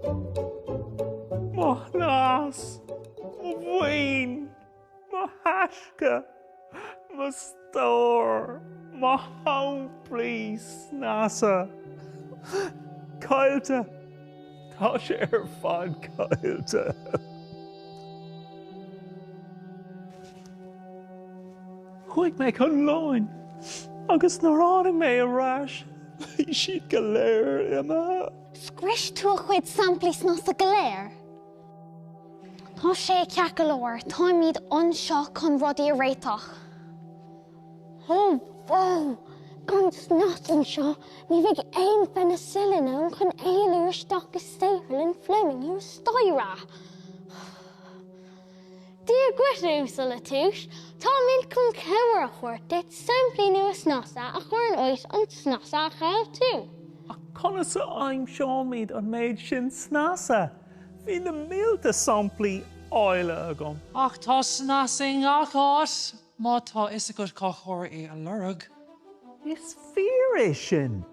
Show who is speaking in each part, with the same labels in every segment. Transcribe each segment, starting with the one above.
Speaker 1: Mo shnas, mo mhaoin, mo thaisce, mo stór, mo shamplaí snasa, caillte, tá sé ar fad caillte. Chuaigh mé chun lóin agus nuair tháinig mé ar ais bhí siad go léir imithe. Scrios tú
Speaker 2: a chuid samplaí snasa go léir? Tá sé ceart go leor, táimid anseo chun rudaí a réiteach. Ó bhó! Gan snas anseo, ní bheidh aon pheinicillin ann chun éalú isteach i saotharlann Fleming thuas staighre! Dia dhuit, a Uasail La Touche. Táimid chun cabhair a thabhairt duit samplaí nua snasa a chur in áit an tsnasa a chaill tú. Ach
Speaker 1: conas a aimseoimid an méid sin snasa? Bhí na mílte samplaí áille agam. Ach tá snas
Speaker 3: i ngach áit. Má tá fhios agat cár chóir é a lorg.
Speaker 1: Is fíor é sin.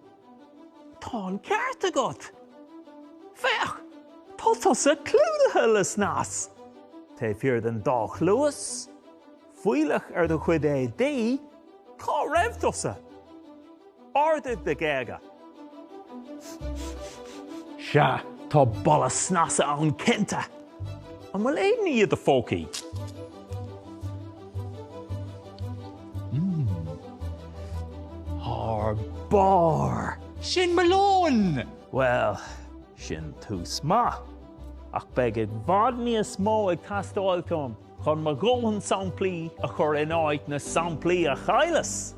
Speaker 1: Tá an ceart agat. Féach! Tá tusa clúdaithe le snas! Taobh thiar den dá chluas, fuílleach ar do chuid éadaí, cá raibh tusa? Ardaigh do ghéaga. Sea, tá boladh snasa ann cinnte! An bhfuil aon ní i do phócaí? Thar barr! Sin
Speaker 3: mo lón! Bhuel,
Speaker 1: sin tús maith. Ach beidh i bhfad níos mó ag teastáil uaim. chun mo dhóthain samplaí a chur in áit na samplaí a chailleas.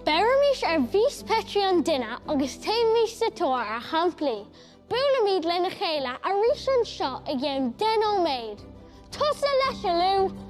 Speaker 2: Beirimís ar mhias Petri an duine agus téimís sa tóir ar shamplaí. Buailfimid lena chéile arís anseo i gceann deich nóiméad. Tusa leis, a Lou!